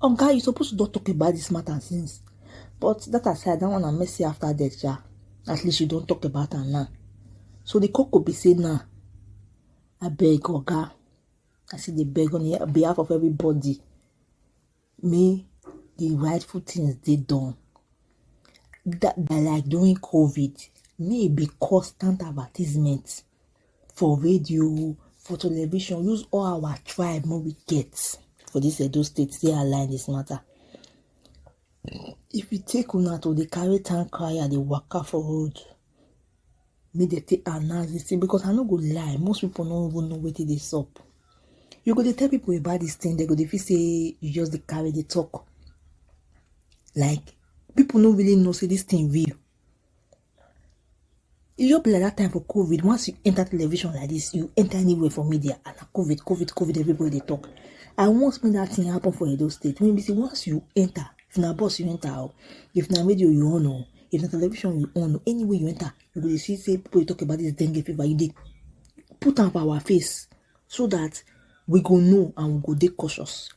Oga, you suppose to don talk about this matter since. But that aside, that one na mercy after death, sha. At least you don talk about am now. So the cocoa be say now, I beg Oga, I say dey beg on behalf of everybody, may the rightful things dey done. That by like during COVID, may e be constant advertisement for radio, for television, use all our tribe wey we get for dis Edo state take align dis matter. If e take una to dey carry town crier dey waka for road make dem take announce dis thing because I no go lie most people no even know wetin dey sup. You go dey tell people about dis thing dem go dey feel sey you just dey carry dey talk like people no really know sey dis thing real. e just be like that time for covid once you enter television like this you enter anywhere for media and na covid covid covid everybody dey talk i once make that thing happen for edo state when be say once you enter if na bus you enter o if na radio you on o if na television you on o anywhere you enter you go dey see say people dey talk about this dengue fever you dey put am for our face so that we go know and we go dey cautious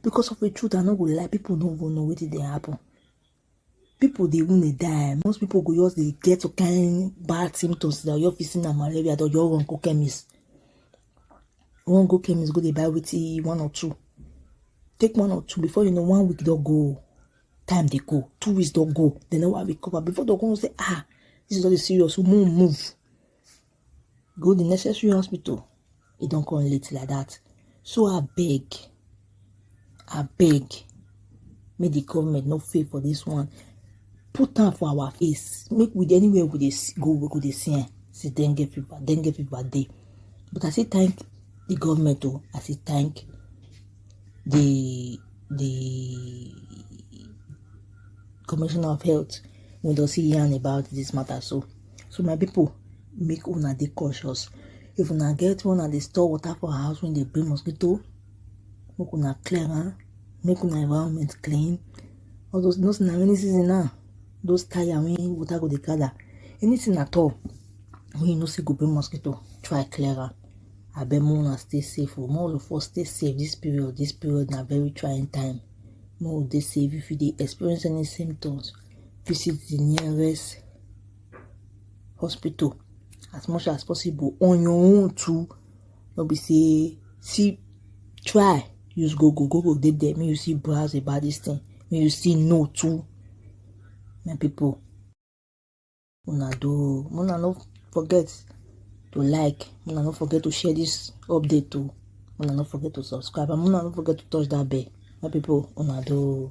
because of the truth i no go lie people no go know wetin dey happen people dey even dey die most people go just dey get some kind bad symptoms that your fit see na malaria that your run go chemist run go chemist go dey buy wetin one or two take one or two before you know one week don go time dey go two weeks don go dem never recover before dem come know say ah this is all the serious move move go the necessary hospital e don come late like that so I beg, I beg, make the government no fail for this one put am for our face make we anywhere we dey go we go dey see am say dengue fever dengue fever dey but i say thank the government o oh. i say thank the the commissioner of health wey don see yarn about this matter so. so my people make una dey cautious if una get one una dey store water for house when they bring mosquito make una clear am make una environment clean all those those na rainy season now those tire wey water go dey gather anything at all wey you know say go bring mosquito try clear am abeg make una stay safe o make all of us stay safe this period this period na very trying time make we dey safe if you dey experience any symptoms visit the nearest hospital as much as possible on your own too no be say see try use google google dey there make you see browse about this thing make you see know too my people una do una no forget to like una no forget to share this update too una no forget to subscribe and una no forget to touch that bell my people una do.